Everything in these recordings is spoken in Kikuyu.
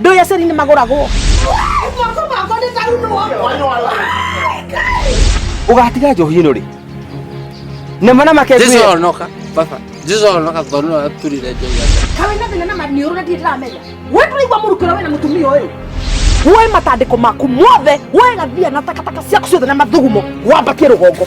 Ndũĩ aceri nĩ magũragwo. Ũgatiga njohi ĩno rĩ? Nema na make Jesu ngwĩre. onoka baba Jesu onoka tondũ nĩ waturire njohi yake Kawe na thina na maniũrũ na ndiramenya. Wewe tũraigua mũrukĩro wena mũtumia ũyũ. Woe matandĩko maku mothe, woe gathia na takataka ciaku ciothe na mathugumo, wambatie rũgongo.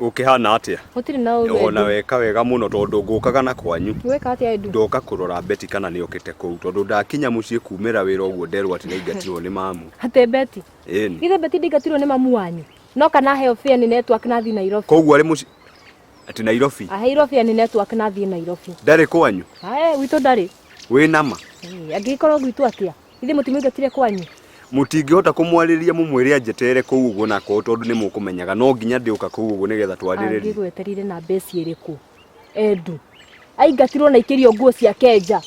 ũkĩhana atĩa Gũtirĩ na ũru ona Edu. weka wega mũno tondũ ngũkaga na kwanyu Weka atĩa Edu? ndoka kũrora beti kana nĩ okĩte kũu tondũ ndakinya mũciĩ kumĩra wĩra ũguo nderwo atĩ nĩingatirwo nĩ mamu Atĩ Beti. ĩni Ithe Beti ndingatirwo nĩ mamu wanyu. No kana aheo fare nĩ network na thiĩ Nairobi. koguo arĩ mũciĩ atĩ nairobi Aheirwo fare nĩ network na thiĩ Nairobi. ndarĩ kwanyu Ae, witũ ndarĩ. wĩ nama Eh, Angĩgĩkorwo gwitũ atĩa? Ithe mũtimũingatire kwanyu. Mũtingĩhota kũmwarĩria mũmwĩre anjeterere kũu ũguo na akorwo tondũ nĩ mũkũmenyaga no nginya ndĩũka kũu ũguo nĩgetha twarĩrĩrie. Angĩgweterire na mbeca ĩrĩkũ? Endu. Aingatirwo na ikĩrio nguo ciake nja.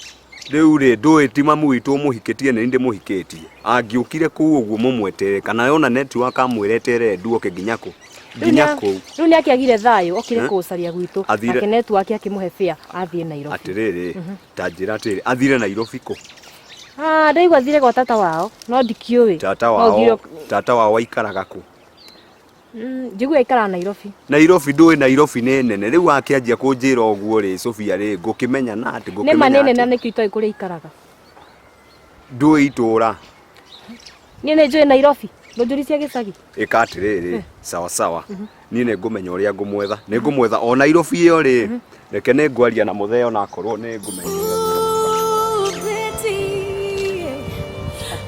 Rĩu rĩ ndũĩ ti mamu witũ ũmũhikĩtie nĩ ndĩmũhikĩtie. Angĩũkire kũu ũguo mũmweterere kana yona network amwĩre eterere Endu oke nginya kũ? Nginya kũu. Rĩu nĩ akĩagire thayũ okire kũũcaria gwitũ. Athire- Nake network akĩmũhe fare athiĩ Nairobi. Atĩrĩrĩ ta njĩra atĩrĩrĩ athire Nairobi kũ? Ah, ndaigua athire gwa tata wao no ndikĩũĩ tata No wao ũthiĩ- tata wao aikaraga kũ Mm, njiguĩ aikaraga nairobi nairobi ndũĩ nairobi nĩ nene rĩu akĩanjia kũnjĩra ũguo rĩ sofia rĩ ngũkĩmenya na atĩ nĩ ma nĩ ngũkĩmenya nene atĩ nĩkĩo itoĩ kũrĩa aikaraga ndũĩ itũũra niĩ nĩ njũĩ nairobi ndũnjũri cia gĩcagi ĩka atĩrĩrĩ sawa sawa niĩ nĩ ngũmenya ũrĩa ngũmwetha nĩ ngũmwetha o nairobi ĩyo rĩ reke nĩ ngwaria na mũthee ona akorwo nĩ ngũmenya ũrĩa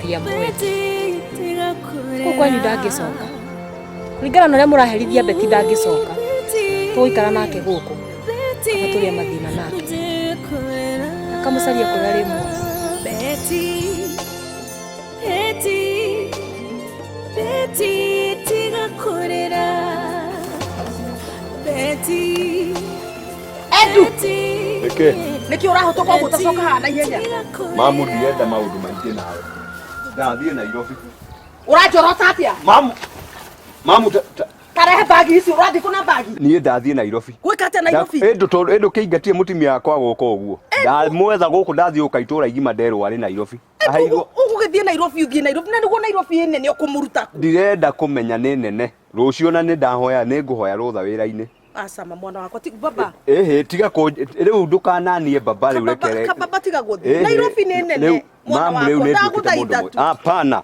Tia mwĩrĩ. Kũu kwanyu ndangĩcoka. Kũringana na ũrĩa mũraherithia Beti ndangĩcoka. Tũgũikara nake gũkũ. Kana tũrĩa mathĩna nake. Akamũcaria kũrĩa arĩ muoyo. Betty. nĩkĩ ũrahota kwa gũtacoka haha na ihenya mamu ndienda maũndũ maingĩ nawe ndathiĩ nairobi ũranjorota atĩa mamu mamu tarehe bagi ici ũrathiĩ kũ na bagi niĩ ndathiĩ nairobi gwĩka atĩa nairobi ĩndũ kĩingatie mũtumia wakwa gũka ũguo ndamwetha gũkũ ndathiĩ gũka itũra igima nderwo arĩ nairobi Ahairwo- ũgũgĩthiĩ nairobi ũthiĩ nairobi na nĩguo nairobi ĩ nene ũkũmũruta kũ? ndirenda kũmenya nĩ nene rũciũ na nĩ ndahoya nĩ ngũhoya rũtha wĩra-inĩ acama mwana wakwa ti baba ĩhĩ tiga kũ rĩu ndũkananie baba rĩu Kababa- rekere kababa tiga gũthiĩ Ĩhĩ, nairobi nĩ rĩu, nene mwana mamu, rĩu wakwa nĩnduĩkĩte mũndũ ndagũthaitha mũĩ- tu hapana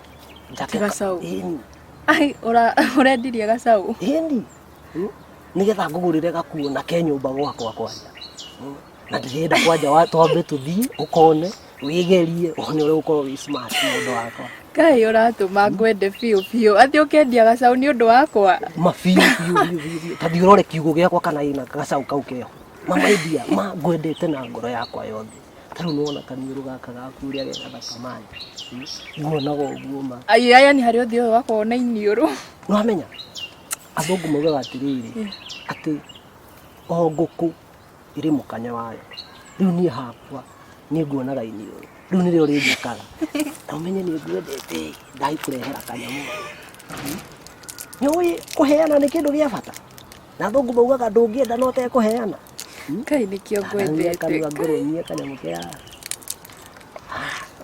Njake ka- Gacaũ. Ĩni, Ai, ũra- ũrendirie gacaũ ĩni. Mm. nĩgetha ngũgũrĩre gakuo na ke nyũmba gwakwa kwanja Mm. na ndĩrenda kwanja wa twambe tũthiĩ ũkone wĩgerie one ũrĩa ũkorwo wĩ smart mũndũ wakwa kaĩ ũratũma ngwende biũ biũ atĩ ũkendia gacaũ nĩ ũndũ wakwa mabiũ biũ biũ biũ biũ ta thiũrore kiugũ gĩakwa kana ĩna gacaũ kau keho mama endia ma ngwendete na ngoro yakwa yothe ta rĩu nĩwona kaniũrũ gaka gaku ũrĩa ge gathaka mani nguonaga ũguo ma Ai, aya nĩ harĩ ũthiũ ũyũ wakorwo na iniũrũ nĩwamenya athũngũ maugaga atĩrĩrĩ atĩ o ngũkũ ĩrĩ mũkanye wayo rĩu niĩ hakwa nĩ nguonaga iniũrũ rĩu nĩrĩo rĩnjĩkaga na ũmenye nĩ nguendete ndai kũrehera kanyamũ nĩũĩ kũheana nĩ kĩndũ gĩa bata na athũngũ maugaga ndũngĩenda no tekũheana kai nĩkĩo ngwendete kanua ngũrũmie kanyamũ kĩa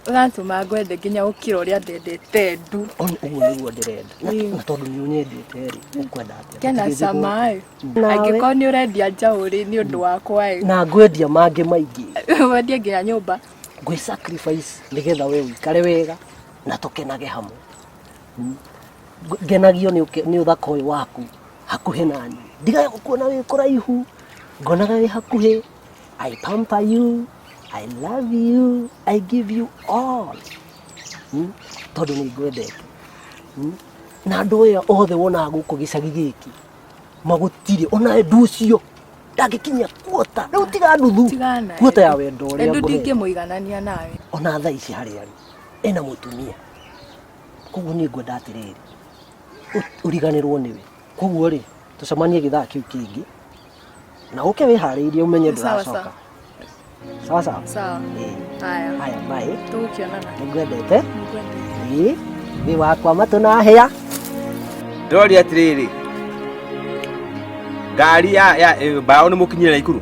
ũratũma ngwende nginya gũkĩra ũrĩa ndendete ndu ũguo nĩguo ndĩrenda na tondũ nĩ ũnyendete rĩ ũkwenda atĩa kena cama ĩ angĩkorwo nĩ ũrendia njaũ rĩ nĩ ũndũ wakwa ĩ na ngwendia mangĩ maingĩ wendie nginya nyũmba ngwĩ sacrifice nĩgetha we ũikare wega na tũkenage hamwe ngenagio nĩ ũthaka ũyũ waku hakuhĩ nani ndigaga gũkuona wĩ kũraihu ngonaga wĩ hakuhĩ I pamper you I love you I give you all hmm? tondũ nĩ ngwendete hmm? na andũ aya othe wonaga gũkũ gĩcagi gĩkĩ magutirĩ ona ndu ũcio ndangĩkinyia kuota rĩu tiga nuthu kuota ya wendo ũrĩa ngũhe ndingĩmũiganania nawe ona thaa ici harĩa ena mũtumia koguo niĩ ngwenda atĩrĩrĩ ũ- ũriganĩrwo nĩwe koguo rĩ tũcemanie gĩthaa kĩu kĩngĩ na ũke wĩharĩirie ũmenye Sawa, ndũracoka sawa sawa sawa Ĩĩ. haya haya maĩ tũgũkĩonana nĩngwendete Nĩngwendete. Ĩĩ, wĩ wakwa matũ na hĩa ndĩroria atĩrĩrĩ ngari ya ya- ĩ, mbaũ nĩ mũkinyĩra ikuru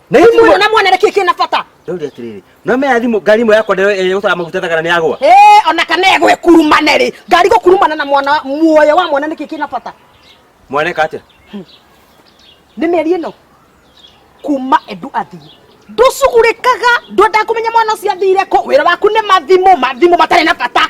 Na Hihi hihi- muona muona nĩkĩ kĩna bata Ndauri atiriri. No me athimu ngari mo yakwa ndio ĩrĩa gũtara maguta thagara ni yagwa. Eh, ona kana egwe kurumane rĩ ngari gũkurumana na mwana muoyo wa mwana nĩkĩ kĩna bata Mwaneka atia? nĩ mĩeri ĩno kuma endu athiĩ ndũcugurĩkaga ndwenda kũmenya mwana ũcio athire kũ wĩra waku nĩ mathimũ mathimũ matarĩ na bata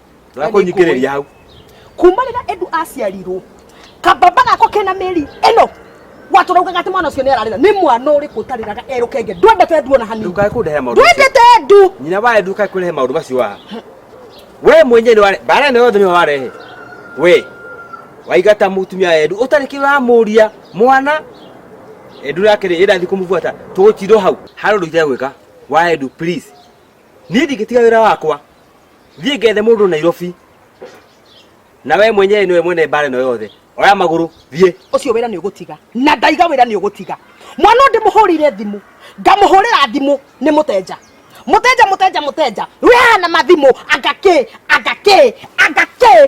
Tũrakũnyikĩrĩria hau. kuma rĩrĩa endu aciarirwo kababa gako kena mĩri ĩno watũraugaga atĩ mwana ũcio nĩ ararĩra nĩ mwana ũrĩkũ ũtarĩraga erũkenge ndwendete endu ona hanini Ndũkae kũndehe maũndũ macio. ndwendete endu Nyina wa Endu ndũkae kũrehe maũndũ macio haha. We mwenyewe nĩ ware bara ĩno yothe nĩwe warehe. We waigata mũtumia wa Endu ũtarĩ kĩndũ ũramũria mwana Endu nake rĩ ĩndathiĩ kũmũbuata tũgũtindwo hau. Harĩ ũndũ itegwĩka wa Endu please. Niĩ ndingĩtiga wĩra wakwa. thiĩ ngethe mũndũ nairobi na we mwenyewe nĩwe mwene mbara ĩno yothe oya magũrũ thiĩ ũcio wĩra nĩ ũgũtiga na ndaiga wĩra nĩ ũgũtiga mwana ũndĩ mũhũrĩire thimũ ngamũhũrĩra thimũ nĩ mũtenja mũtenja mũtenja mũtenja rĩu hahana mathimũ anga kĩ anga kĩ anga kĩ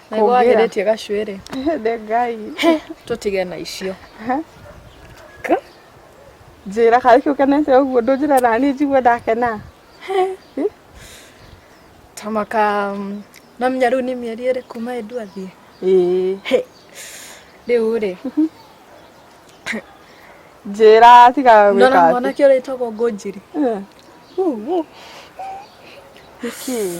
Naigua wagĩrĩtie gacuĩrĩ. Hende ngai. Tũtige na icio. Njĩra kana kĩu kenete ũguo ndũnjĩra nani njigua ndakena. Tamaka namenya rĩu nĩ mĩeri ĩrĩ kuma endu athiĩ. Ĩĩ. Rĩu rĩ. Njĩra tiga gwĩka. Ndona mwanake ũrĩa wĩtagwo Ngũnjiri. Nĩkĩ?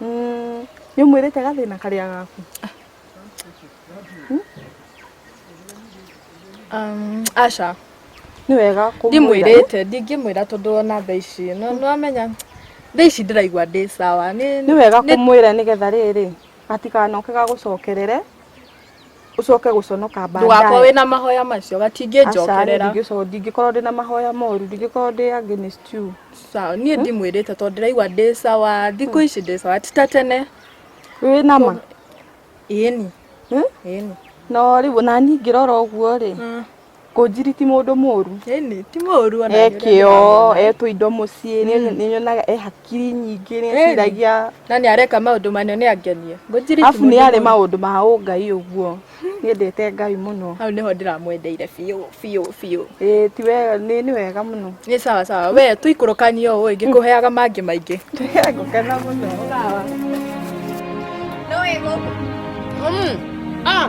Mm, nĩ ũmwĩrĩte gathĩna karĩa gaku Um, aca nĩ wega kũmwĩra. ndimwĩrĩte ndingĩmwĩra tondũ ona tha ici no nĩwamenya tha ici ndĩraigua ndĩ sawa nĩ nĩ wega nĩ- kũmwĩra nĩgetha rĩrĩ gatikanoke gagũcokerere ucoke guconoka baadaye ndugako wina mahoya macio gatingĩnjokerera ndingĩcoka ndingĩkorwo ndĩ na mahoya moru ndingĩkorwo ndĩ against you sawa niĩ ndimwĩrĩte tondũ ndĩraigua ndĩ sawa thikũ ici ndĩ sawa ti ta tene wĩ na ma ĩni ĩni no rĩu nani ngĩrora ũguo rĩ Kũnjiri ti mũndũ mũru. Ĩni, ti mũru ona. E kĩo, e tũindo mũciĩ, nĩ nyonaga e hakiri nyingĩ, nĩ eciragia. Na nĩ areka maũndũ manene nĩ angenie. Kũnjiri ti Afu nĩ mũndũ arĩ mũru. maũndũ ma ũngai ũguo. Nĩendete Ngai mũno. Hau nĩho ndĩramwendeire biũ biũ biũ. Ĩĩ ti wega, nĩ nĩ wega mũno. Nĩ sawa sawa. We tũikũrũkanie ũũ ĩ, ngĩkũheaga mangĩ maingĩ. Ngũkena mũno. Sawa. No wĩ gũkũ? Mm. Ah.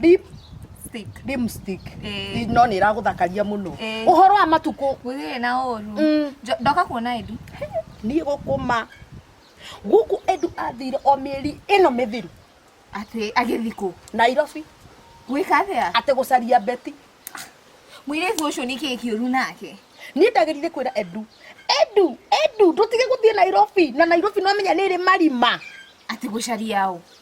Deep stick. Dim stick. Ĩĩ. Ĩ, No nĩ ĩragũthakaria mũno. Ĩĩ. Ũhoro wa matukũ. Gũtirĩ na ũru. Mm. Njo- Ndoka kuona Edu. Niĩ gũkũma. Gũkũ Edu athire o mĩeri ĩno mĩthiru. Atĩ agĩthiĩ kũ? Nairobi. Gwĩka atĩa? Atĩ gũcaria Betty. Mũirĩtu ũcio nĩ kĩĩ kĩũru nake? Niĩ ndagĩrire kwĩra Edu. Edu, Edu, ndũtige gũthiĩ Nairobi. Na Nairobi nĩwamenya nĩ ĩrĩ marima. Atĩ gũcaria ũ?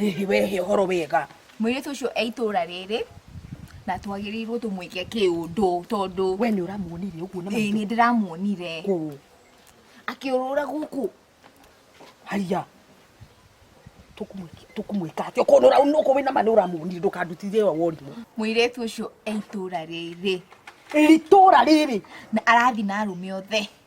hihi wehe ũhoro wega mwĩirĩtu ũcio e itũra rĩrĩ na twagĩrĩirwo tũmwĩke kĩũndũ tondũ we nĩ ũramuonire ũguo na ĩĩ nĩ ndĩramuonire kũ akĩũrũra gũkũ haya tũkumwĩka atĩ okorwo nũkũ wĩna ma nĩ ũramuonire ndũkandutithie wa worimũ mwĩirĩtu ũcio e itũra rĩrĩ itũra rĩrĩ na arathi na arũme othe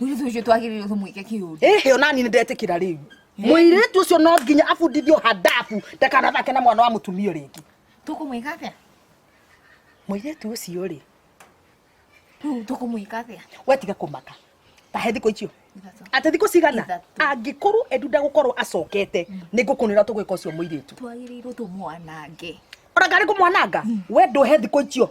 mũirĩtu twagĩrĩirwo tũmwĩke kĩũndũ ĩhĩ ona niĩ nĩndetikira rĩu mũirĩtu ũcio no nginya abundithio handabu ndakanathake na mwana wa mũtumia rĩngĩ tũkũmwĩka atĩa mũirĩtu ũcio rĩ rĩu tũkũmwĩka atĩa we tiga kũmaka tahe thikũ icio atä thikå cigana angä korwo endu ndagåkorwo acokete mm. nä ngå kå nä ra tå gwä ka å cio må irä tu twagä rä irwo tå mwanange ona ngarä kå mwananga mm. we ndå he thikå icio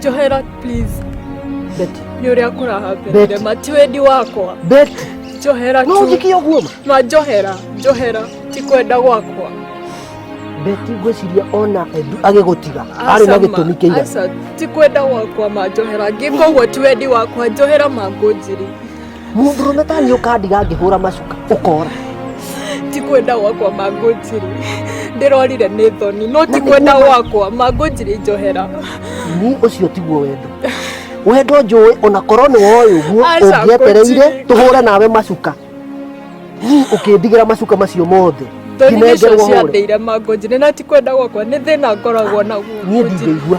Johera, please. Beti. Nĩ ũrĩa kũrahambenire Beti. mati wendi wakwa. Beti. Johera No tu. ũnjikie ũguo ma? Ma Johera, Johera, ti kwenda gwakwa. Beti ngwĩciria ona Edu agĩgũtiga arĩ na Aca ma, gĩtũmi kĩigana. aca, ti kwenda gwakwa ma Johera. Ngĩka ũguo ti wendi wakwa. Johera ma ngũnjiri. mũndũrũme ta niĩ ũkandiga ngĩhũra macuka ũkora ti kwenda gwakwa mangũnjiri ndĩrorire nĩ thoni no ti kwenda gwakwa mangũnjiri njohera ni ũcio tiguo wendo wendo njũĩ ona korwo nĩ woĩ ũguo Aca, ũngĩetereire ngũnjiri. tũhũre nawe macuka ni ũkĩndigĩra macuka macio mothe thoni nĩcio nginengerwo hũre ciandeire mangũnjiri na ti kwenda gwakwa nĩ thĩna ngoragwo naguo niĩ ndingĩigua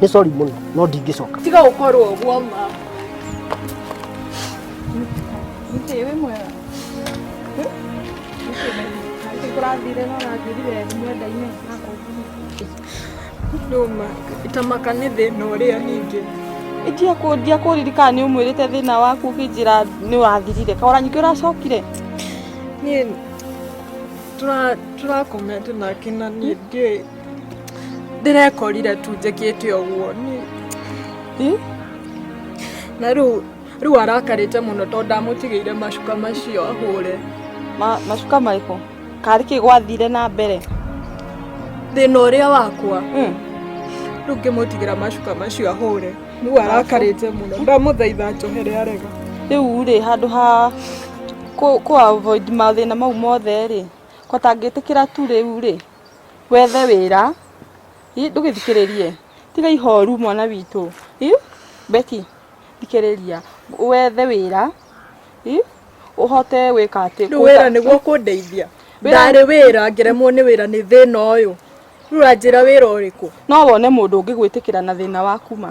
nĩ sorry mũno no ndingĩcoka tiga ũkorwo ũguo ma Nĩkĩ wĩ mwega? Nĩkĩ kũrathire na ũrathirire mwenda-inĩ na kũnguni? ndũma itamaka nĩ thĩna ũrĩa ningĩ Itia kũ ndiakũririkana nĩ ũmwĩrĩte thĩna waku ũkĩnjĩra nĩ ũrathirire. Kaora nyingĩ ũracokire. niĩ tũra- tũrakomete nake na niĩ ndiũĩ ndĩrekorire tu njĩkĩte ũguo niĩ na rĩu rĩu arakarĩte mũno tondũ ndamũtigĩire macuka macio ahũre Ma- macuka marĩkũ karĩ kĩ gwathire na mbere thĩna ũrĩa wakwa Mm. rĩu ngĩmũtigĩra macuka macio ahũre rĩu arakarĩte mũno ndamũthaitha njohere arega rĩu rĩ handũ ha kũ kũ avoid mathĩna mau mothe rĩ ko tangĩtĩkĩra tu rĩu rĩ wethe wĩra Ih, ndũgĩthikĩrĩrie tiga ihoru mwana witũ Ih, Betty thikĩrĩria wethe wĩra Ih, ũhote gwĩka atĩ rĩu wĩra nĩguo kũndeithia Wĩra- ndarĩ wĩra ngeremwo nĩ wĩra nĩ thĩna ũyũ rĩu ranjĩra wĩra ũrĩkũ no wone mũndũ ũngĩgwĩtĩkĩra na thĩna waku ma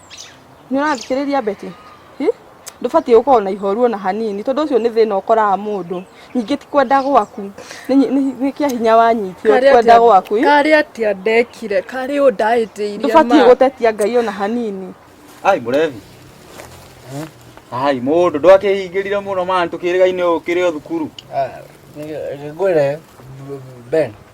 nĩ ũrathikĩrĩria beti Hi? ndũbatiĩ gũkorwo na ihoru ona hanini tondũ ũcio nĩ thĩna ũkoraga mũndũ ningĩ ti kwenda gwaku nĩ nyi- nĩ- nĩ kĩa hinya wanyitio ti kwenda gwaku Hi? karĩ atia ndekire karĩ ũ ndahĩtĩirie ndũbatiĩ ma. gũtetia ngai ona hanini ai mũrebi ai mũndũ ndwakĩhingĩrire mũno mani tũkĩrĩga-inĩ ũkĩrĩ o thukuru ngwĩre ben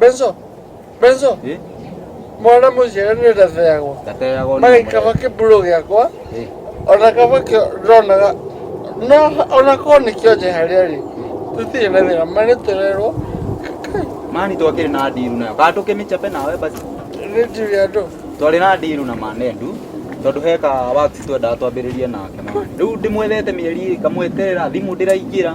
Benzo, Benzo. Eh? Mwana mũnjĩre nĩ ndateagwo. Ndateagwo nĩ Mage kaba kĩmburo gĩakwa. Eh. Ona kaba kĩo ndonaga. No ona korwo nĩ kĩo nje harĩa rĩ. Tũtirĩ na thĩna. Mani tũrerwo. Mani twakĩrĩ na ndiru nayo. Kana tũkĩmĩchape nawe basi. Nĩ ndiru ya andũ. Twarĩ na ndiru na manendu tondå he ka wax twendaga twambä rä rie nake rä u ndä mwethete mä eri ä kamweterera thimå ndä raingä ra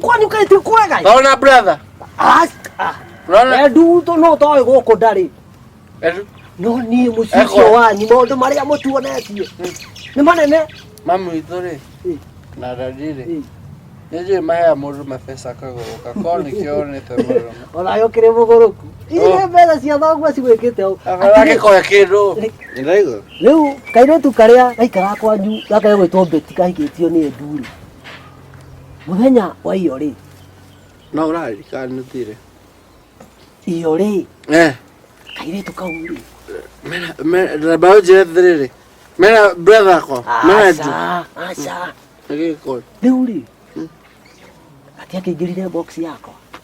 Kwani ukaiti kwega? Naona brother. Ah. Naona. Edu to no to go ko dari. Edu. No ni musicio wa ni maundu maria mutuonetie. Hmm. Ni manene. Mamu itore. Hmm. Na dadire. Hmm. Nĩnjũĩ mahea mũndũ mabesa kagũrũka ko nĩkĩo onete mũrũma ona yo kĩrĩ mũgũrũku iria mbeca cia thoguo cigwĩkĩte ũũ agĩkoya kĩndũ rĩu kairĩtu karĩa gaikara kwanyu gakage gwĩtwo mbeti kahikĩtio nĩ ndurĩ Mũthenya wa iyo rĩ. No ũrarikana nĩ thire. Iyo rĩ. Eh. Kairĩtu kau rĩ. Mera, mera, mbaũ njĩra thĩrĩrĩ. Mera, brother ko. Mera jù. Aca, aca. Nĩgĩkũri. Rĩu rĩ. Ati akĩingĩrire box yako.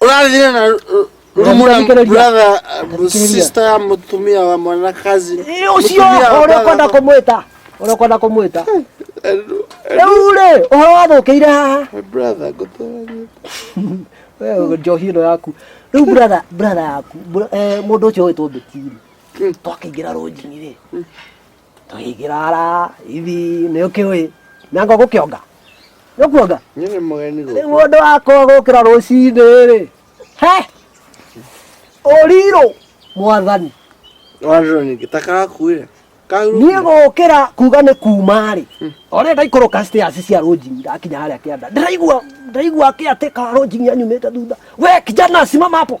Ũrathire na ru- rumu na Ũrathikĩrĩria. brother, uh, sister ya mũtumia wa mwana kazi. Ĩ, ucio ũrĩa ũkwenda kũmwĩta ũrĩa ũkwenda kũmwĩta rĩu rĩ ũhoro wathũkĩire haha My brother, ngũtũrania. Wewe njohi ĩno yaku rĩu brother brother yaku bro- eh, mũndũ ũcio ũgĩtwo mbĩtiri twakĩingĩra rũnjini rĩ Tũigĩrara ithi nĩ ũkĩũĩ na ngo gũkĩonga gũkuonga Nyie nĩ mũgeni rĩu gũkũ. mũndũ wakwa gũkĩra rũcinĩ rĩ he ũrirũ mwathani Wandĩrwo ningĩ ta kakuire. niĩ Kahurũkire. gũkĩra kuga nĩ kuma rĩ ona ndaikũrũka stairs cia rũnjini ndakinya harĩa kĩanda ndĩraigua ndĩraigua kĩatĩ ka rũnjini anyumĩte thutha we kijana simama hapo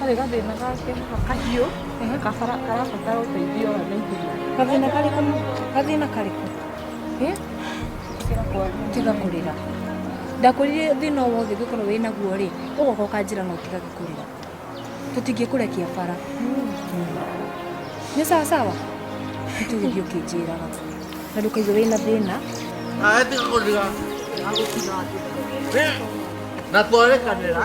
Harĩ gathĩna gake kahiũ nĩ kabara karabatara ũteithio wa naihenya. Gathĩna karĩkũ? Gathĩna karĩkũ? Eh? Tiga kũrĩra. Ndakwĩrire thĩna o wothe ũngĩkorwo wĩ naguo rĩ, ũgoka ũkanjĩra na ũtigage kũrĩra. Tũtingĩkũrekia bara. Nĩ sawa sawa? Nĩtũgĩthiĩ ũkĩnjĩraga. Na ndũkaigue wĩ na thĩna. Ae tiga kũrĩra. Ndagũkira. Na twarekanĩra.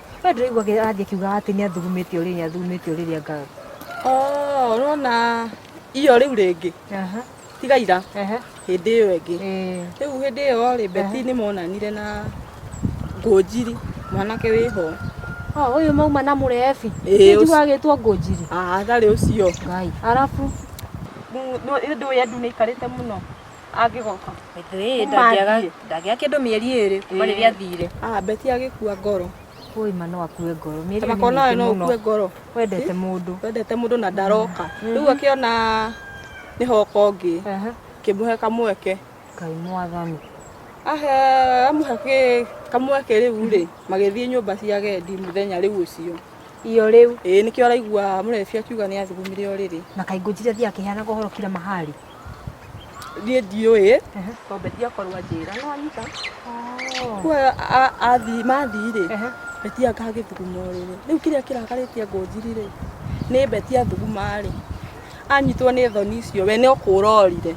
we ndĩraigua athiĩ akiugaga atĩ nĩ athugumĩte ũrĩrĩ nĩ athugumĩte ũrĩrĩ anga Oh, urona iyo riu ringi aha tiga ira ehe hindi iyo ingi eh riu hindi iyo ri beti ni monanire na ngunjiri mwanake wiho oh uyu mauma na murebi Ĩĩ, ũcio. njuga agitwo ngũnjiri athari ucio ngai arabu ndu ya ndu ni ikarite muno angĩgoka Ĩĩ, ndangĩaga ndangĩaga kĩndũ mĩeri ĩrĩ kuma rĩrĩa athire ah beti agĩkua ngoro kũĩ ma no akue ngoro mĩeri ĩrĩ nĩ makona nawe mĩingĩ no mũno ũkue ngoro wendete mũndũ wendete mũndũ na ndaroka rĩu akĩona nĩ hoka ũngĩ Ehe. kĩmũhe kamweke ngai mwathani ahe amũhe kĩ- kamweke rĩu rĩ magĩthiĩ nyũmba cia gendi mũthenya rĩu ũcio iyo rĩu ĩĩ nĩkĩo araigua mũrebi akiuga nĩ athugumire ũrĩrĩ na kaingũ njira thiaga akĩheanaga ũhoro kira mahari niĩ ndiũĩ ng'ombe ndiakorwo anjĩra no anyita kuo athiĩ mathiĩ-rĩ beti akagĩthuguma ũrĩrĩ rĩu kĩrĩa kĩrakarĩtie ngũnjiri-rĩ nĩ beti athuguma-rĩ anyitwo nĩ thoni icio we no kũra orire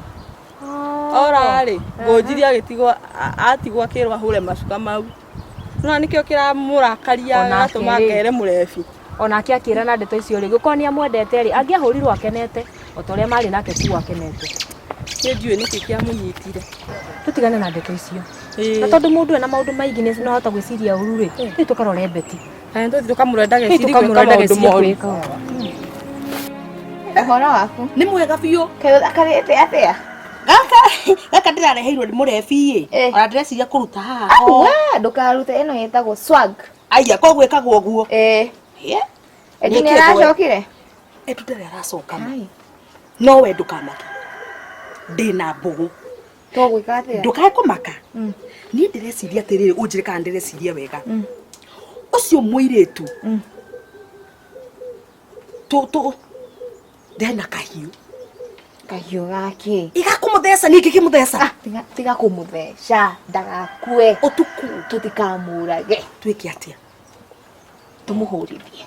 ora-rĩ ngũnjiri agĩtigwo atigwo akĩrwo ahũre macuka mau. na nĩkĩo kĩramũrakaria Onake gatũma rĩ. ngere mũrebi onake akĩra na ndeto icio rĩ gũkorwo nĩ amwendete rĩ angĩahũrirwo akenete o ta ũrĩa marĩ nake kuo akenete nĩ njũĩ nĩkĩ kĩamũnyitire tũtigane na ndeto icio na tondũ mũndũ ena maũndũ maingĩ nĩ ahota gwĩciria ũru rĩ nĩ tũkarore beti Kana tũthi tũkamũrore ndageciri Tũthiĩ tũkamũrore gwĩka maũndũ ndageciri moru. gwĩka ũũ. Ũhoro waku? Nĩ mwega biũ. Karĩte atĩa? Gaka gaka ndĩrareheirwo nĩ mũrebi-ĩ. Ona ndĩreciria kũruta haha. Au, we, ndũkarute ĩno ĩtagwo swag. Aya, ko gwĩkaga ũguo. Ĩĩ. Eti nĩ aracokire? Etu ndarĩ aracoka ma. No we ndũkamake. Ndĩna mbũgũ. togwika atia ndukae kumaka mm. ni ndireciria atiriri unjire kana ndireciria wega mm. ucio muiritu mm. tu tu ndena kahiu kahiu gake igakumutheca ningi kimutheca ah, tiga tiga kumutheca ndagakue utuku tutikamurage twike atia tumuhurithie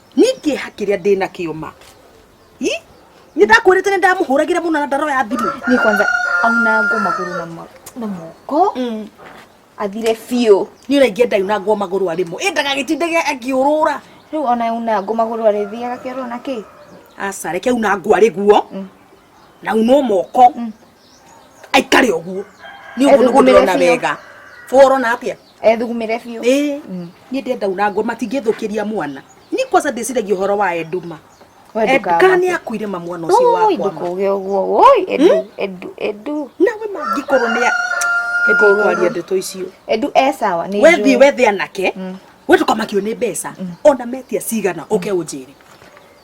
nĩ kĩeha kĩrĩa ndĩ nakĩo ma Ĩ? nĩ ndakwĩrĩte nĩ ndamũhũragĩra mũno na ndaroya thimũ ni kwanza aunangwo maguru na ma- na moko athire biũ nĩ ũraingĩa ndayunangwo magũrũ arĩmũ ĩ ndagagĩtindage akĩũrũra riu ona aunangwo maguru arĩthiaga kĩoro na kĩ aca reke unangwo arĩ guo na unwo moko aikare å guo nä å guo nä wega forona atä a ethugumire biu eh mm. ni ndenda una ngo matingithukiria mwana ni kwanza ndiciragia horo wa enduma Edka ni akuire ma mwana ucio wakwa. Oi ndukuge uguo. Oi edu hmm? edu edu. Na we mangikorwo ni edu kwaria ndeto icio. Edu e sawa ni. We thi we thi anake. Hmm. We tukamakio ni mbeca. Hmm. Ona metia cigana uke unjire.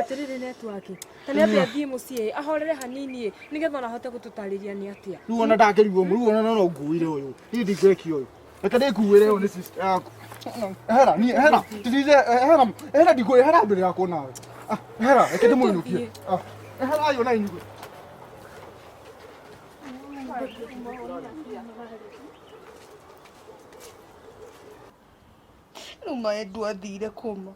atiriri netwaki ta nä atä athiä må ciä ahorere hanini ä nä getha ona ahote gå tå tarä ria nä atä rä u ona ndangĩrigwo mũru ona no nguire ũyũ niĩ ndingĩkio ũyũ reke ndĩkuĩre ũyũ nĩ sister yaku hera niĩ hera tirize hera hera ndikuĩ hera mbere yakwa nawe Ah, hera reke ndĩmũinũkie Ah, hera ayo na inyuĩ rä u maendwo athire kå ma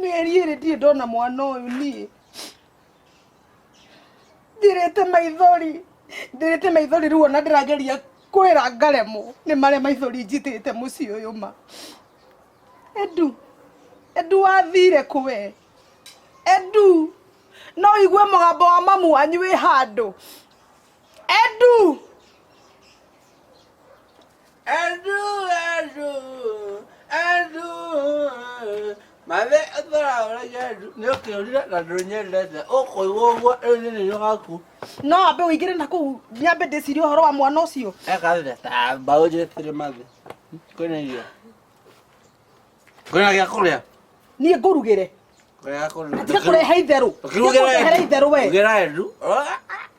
mĩeri ĩrĩ ndirĩ ndona mwana ũyũ niĩ thirĩte maithori thirĩte maithori rĩu ona ndĩrageria kwĩra ngaremwo nĩ marĩa maithori njitĩte mũciĩ ũyũ ma endu endu wathire kwe endu no igue mũgambo wa mamu wanyu wĩ handũ endu Andu, andu, andu. Mathe ũtaraũra nyendu nĩ ũkĩũrire na ndũnyendete ũkũigwo ũguo rĩu nĩ nĩnyo gaku no ambe ũingĩre na kũu nyambe ndĩcirie ũhoro wa mwana ũcio ekathire ta mbaũ njĩtire mathe kwĩna irio kwĩna gĩa kũrĩa niĩ ngũrugĩre kwĩna gĩa kũrĩa tiga kũrehe itherũ Tiga kũrehe itherũ we Ugĩra endu.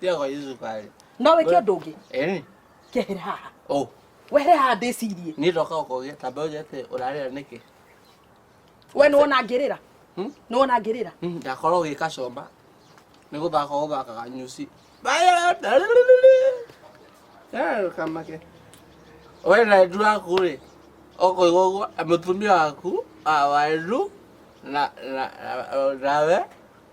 Tiago Yusuf arĩ. No wĩke ũndũ ũngĩ. Ĩni. Kehera haha. Ũ. Wehere haha ndĩcirie. Niĩ ndoka gũkũgĩa ta mbeũ njĩthĩ ũrarĩra nĩkĩ? We nĩ wona ngĩrĩra? Hmm? Nĩ wona ngĩrĩra? Hmm, ndakorwo ũgĩka comba. Nĩ gũthaka gũthakaga nyuci. Baya! Eh, kamake. We na endu waku rĩ, ũkũigua ũguo, mũtumia waku, ah, wa endu, na, na, na, nawe,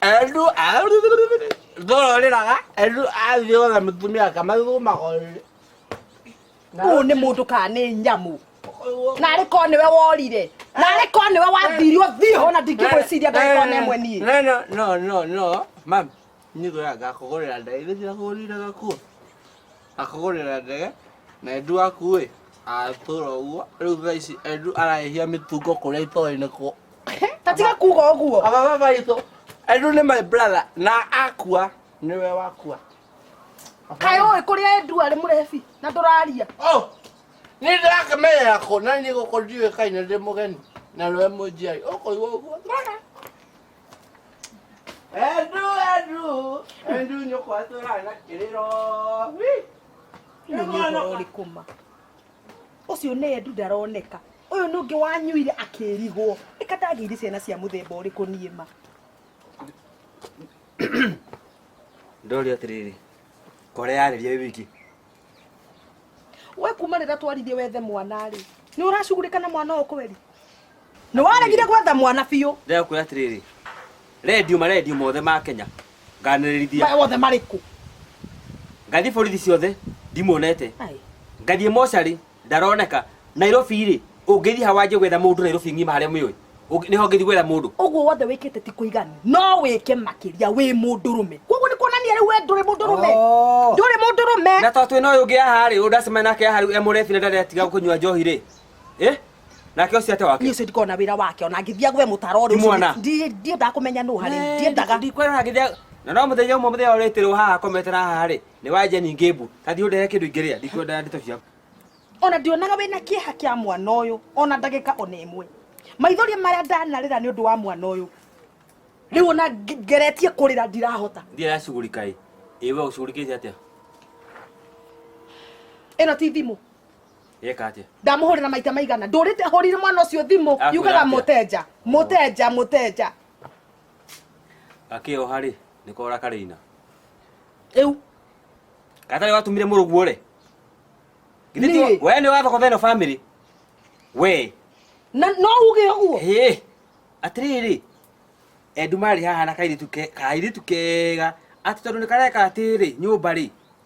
Andũ ndororĩraga andũ athiĩ othe mũtumia akamathumaga ũyũ. Na Ũyũ nĩ mũndũ kana nĩ nyamũ. Narĩ korwo nĩwe worire. Narĩ korwo nĩwe wathirio thiĩ ho na ndingĩgwĩciria ndagĩkorwo na ĩmwe niĩ. No, no, no, no, no, mami, nĩ ngwĩra ngakũgũrĩra ndaĩ, nĩ ndĩrakũgũrĩire gakuo. Akũgũrĩra ndege na endu waku ĩ atũra ũguo rĩu thaa ici endu arahĩhia mĩtungo kũrĩa itoĩ nĩ kũ tatiga kuga ũguo aba baba itũ endu nĩ my brother na akua nĩwe wakua kaĩ ũĩ kũrĩa endu arĩ mũrebi na ndũraria Oh, nĩ ndĩrakĩmenyera kũ na niĩ gũkũ ndiũĩkaine ndĩ mũgeni na nĩwe mũnjiari ũkũigua ũguo Endu, endu, endu nyoko atura na kiriro. Nĩ mwana ũrĩkũ ma? Ũcio nĩ endu ndaroneka. Ũyũ nĩ ũngĩ wanyuire akĩrigwo. Ĩka ndagĩire ciana cia mũthemba ũrĩkũ niĩ ma? Ndori atĩrĩrĩ, kore yarĩria wiki. we kuma rä rä a twaririe wethe mwana rä nä å racugurä kana mwana å kweri nä waregire gwetha mwana biå ndĩrakwĩra atĩrĩrĩ rendio marendio mothe ma kenya nganĩrĩrithia wothe marä kå ngathiĩ borithi ciothe ndimuonete ngathiĩ mocarĩ ndaroneka nairobi rĩ ũngĩthiĩ ha wanjie gwetha mũndũ nairobi ng'ima harĩa mĩũĩ nĩho ngĩthiĩ gwetha mũndũ ũguo wothe wĩkĩte ti kũiganu no wĩke makĩria wĩ mũndũrũme koguo nĩ kuonania rĩu we ndũrĩ mũndũrũme Oh. ndũrĩ mũndũrũme na tondũ twĩna ũyũ ũngĩ haha rĩ ũndacemana nake haha rĩu emũrebi na ndaretiga kũnyua njohi rĩ ĩ nake ũcio ate wake niĩ ũcio ndikona wĩra wake ona ngĩthia gwe mũtaro ũrĩa Nĩ mwana. ũcio ndi- ndiendaga kũmenya nũ harĩ ndiendaga ndikwĩrora ngĩthia na no mũthenya ũmwe mũthenya ũrĩtĩrwo haha komete na haha rĩ Nĩ wanje ningĩ mbu. Kathi ũndere kĩndũ ingĩrĩa, ndikwenda ndeto ciaku. ona ndionaga wĩna kĩeha kĩa mwana ũyũ ona ndagĩka ona ĩmwe maithori marĩa ndanarĩra nĩ ũndũ wa mwana ũyũ rĩu ona nge- ngeretie kũrĩra ndirahota Ndiye yacugurika ĩ. Ĩ we ũcugurikĩte atĩa? ĩno ti thimũ Yeka atĩa? ndamũhũrĩra maita maigana ndũrĩte hũrire mwana ũcio thimũ Akũĩra yugaga atĩa? mũtenja mũtenja mũtenja gakĩoha rĩ nĩ kora karĩina rĩu gatarĩ watumire mũrũguo rĩ Githĩ ti Niĩ? wa- we nĩ wathogotha ĩno bamĩrĩ we na no uge ũguo Hĩ, atĩrĩrĩ endu marĩ haha na kairĩtu ke- kairĩtu kega atĩ tondũ nĩ kareka atĩrĩ nyũmba rĩ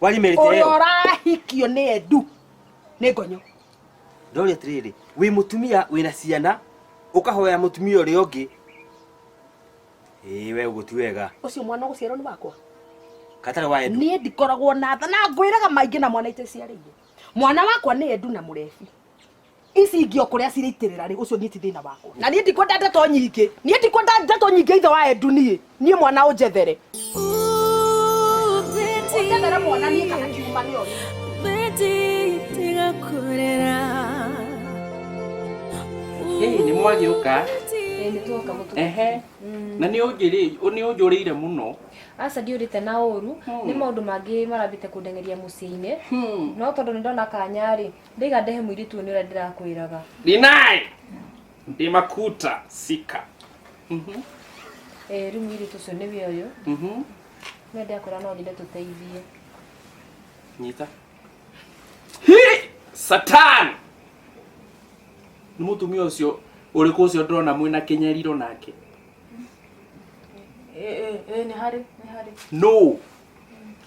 Kwani mĩrite ũrĩa ĩyo? ũrahikio nĩ endu nĩ ngonyo Ndori atĩrĩrĩ, wĩ mũtumia wĩna ciana, ũkahoya mũtumia ũrĩa ũngĩ. Ĩĩ we ũguo ti wega. ũcio mwana ũgũciarwo nĩ wakwa Katarĩ wa endu. niĩ ndikoragwo na tha na ngwĩraga maingĩ na mwana iteciarĩire mwana wakwa nĩ endu na mũrebi ici ingĩ o kũrĩa cirĩitĩrĩra rĩ ũcio niĩ ti thĩna wakwa na niĩ ndikwenda ndeto nyingĩ niĩ ndikwenda ndeto nyingĩ ithe wa endu niĩ niĩ mwana ũnjethere ũnjethere mwana niĩ kana kiuma nĩ oyo Betty, tiga kurera. Hey, nĩ mwagĩũka ehe na nĩ ũnjĩrĩ- nĩ ũnjũrĩire mũno aca ndiũrĩte na ũru nĩ maũndũ mangĩ marambĩte kũndeng'eria mũciĩ-inĩ no tondũ nĩ ndona kanya-rĩ Ndaiga ndehe mũirĩtu ũyũ nĩ ũrĩa ndĩrakwĩraga. Deny! Ndi makuta sika. Mhm. Eh, rĩu mũirĩtu ũcio nĩwe ũyũ. Mhm. Nĩ ndakwĩra no nyende tũteithie. Nyita. Hi! Satan! Nĩ mũtumia ũcio ũrĩkũ ũcio ndĩrona mwĩna kĩnyariro nake? Eh, eh, eh, nĩ harĩ, nĩ harĩ. No!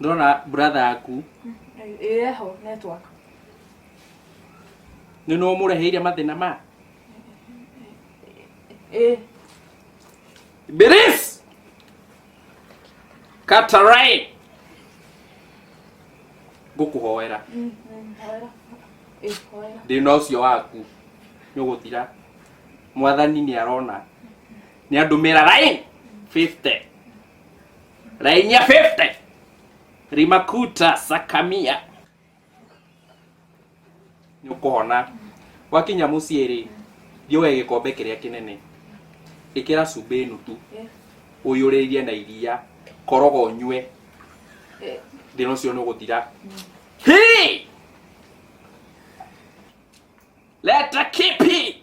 ndona brother yaku ĩho network nĩ no mũreheire mathĩna ma ĩ biris katarai ngũkũhoera mm, mm, hoera. Ĩ, hoera. thĩna ũcio waku nĩ ũgũthira mwathani nĩ arona nĩ andũmĩra rain 50 Raini ya 50. Rimakuta Sakamia. Nĩ ũkũhona. Wakinya mũciĩ rĩ, thiĩ woe gĩkombe kĩrĩa kĩnene. Ĩkĩra cumbĩ nuthu. Ũiyũrĩrie na iria. Koroga ũnyue. Thĩna ũcio nĩ ũgũthira. Hii! Leta kipi!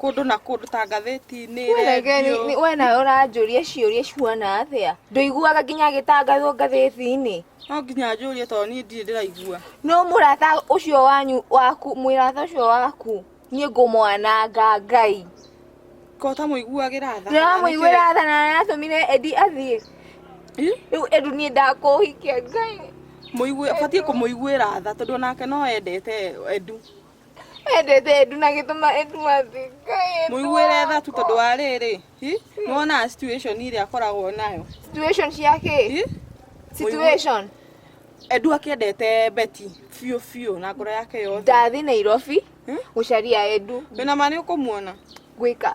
kũndũ na kũndũ ta ngathĩti-inĩ rendio we nawe ũranjũria ciũria cihuana atĩa ndũiguaga nginya gĩtangathwo ngathĩti-inĩ no nginya njũrie tondũ niĩ ndirĩ ndĩraigua no mũrata ũcio wanyu waku mũrata ũcio waku niĩ ngũmwananga ngai ko ta mũiguagĩra tha ndĩramũiguĩra tha na aratũmire endi athiĩ Ĩ? rĩu endu niĩ ndakũhikia ngai mũigue batiĩ kũmũiguĩra tha tondũ onake no endete endu wendete ndu na gĩtũma ĩtumathika mũiguĩre tha tu tondũ wa rĩrĩ hi, nĩwonaga situation ĩrĩa akoragwo nayo situation cia kĩ Hi? situation endu akĩendete beti biũ biũ na ngoro yake yothe ndathi nairobi Hmm? gũcaria endu wĩna ma nĩ ũkũmuona gwĩka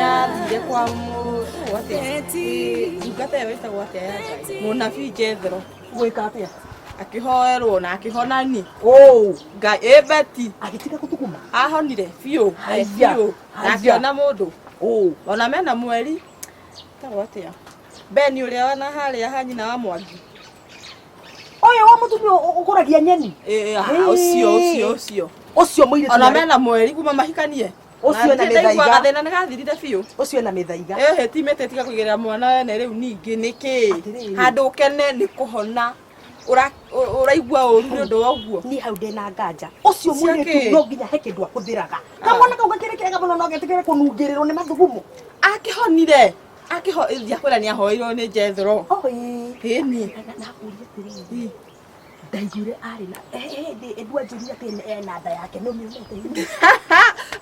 yathiire kwa mu- wate ĩ, ndungata ĩyo ĩtagwo atĩa ya Ngai? mũnabii jethero gwĩka atĩa akĩhoerwo na akĩhona ni oh ngai ĩ beti agĩtiga gũthuguma ahonire biũ eh, Haya, biũ na haya. akĩona mũndũ oh ona mena mweri tagwo atĩa beni ũrĩa wana harĩa ha nyina wa mwangi ũyũ wa mũtumia ũ- ũkũragia nyeni Eh, ah, ũcio ũcio ũcio ũcio mũirĩtu ona arĩ- mena mweri kuma mahikanie Ũcio Na ena ndirĩ ndaigua mĩthaiga. gathĩna nĩ gathirire biũ ũcio ena mĩthaiga ehe timĩte tiga kũigĩrĩra mwana wene rĩu ningĩ nĩkĩ Atĩrĩrĩ. handũ ũkene nĩ kũhona Ũra- ũ- ũraigua ũru nĩ ũndũ wa ũguo niĩ hau ndĩna nganja ũcio Cia mũirĩtu kĩ? no nginya he kĩndũ akũthĩraga kamwana kau gakĩrĩ kega mũno no getĩkĩre kũnungĩrĩrwo nĩ mathugumo akĩhonire ndiakwĩra nĩ ahoeirwo nĩ jethro ĩni ndaiguire arĩ na hĩndĩ ĩndua njĩrire atĩ ena nda yake nĩ ũmĩonete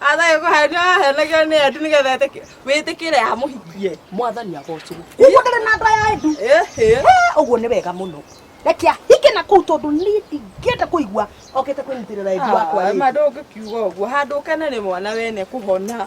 athaĩ kũhenia ahenagio nĩ endu nĩgetha wĩtĩkĩre amũhikie mwathani agocwo ũguo ndĩrĩ na nda ya endu ũguo nĩ wega mũno reke ahike na kũu tondũ niĩ ndingĩenda kũigua okĩte kwĩnyitĩrĩra endu wakwa ma ndũngĩkiuga ũguo handũ ũkene nĩ mwana wene kũhona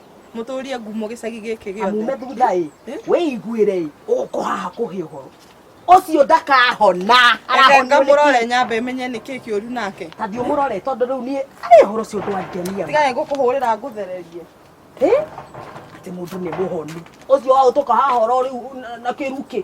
mũtũrie ngumo gĩcagi gĩkĩ gĩothe amume thutha ĩ wĩiguĩre ĩ ũkũ haha kũhe ũhoro ũcio ndakahona Reke ngamũrore nyambe menye nĩ kĩĩ kĩũru nake tathi ũmũrore tondũ rĩu niĩ arĩ ũhoro ũcio ndwangenia tiga nĩ ngũkũhũrĩra ngũthererie ĩ atĩ mũndũ nĩ mũhonu ũcio waũtũka haha ũhoro rĩu na- na kĩrukĩ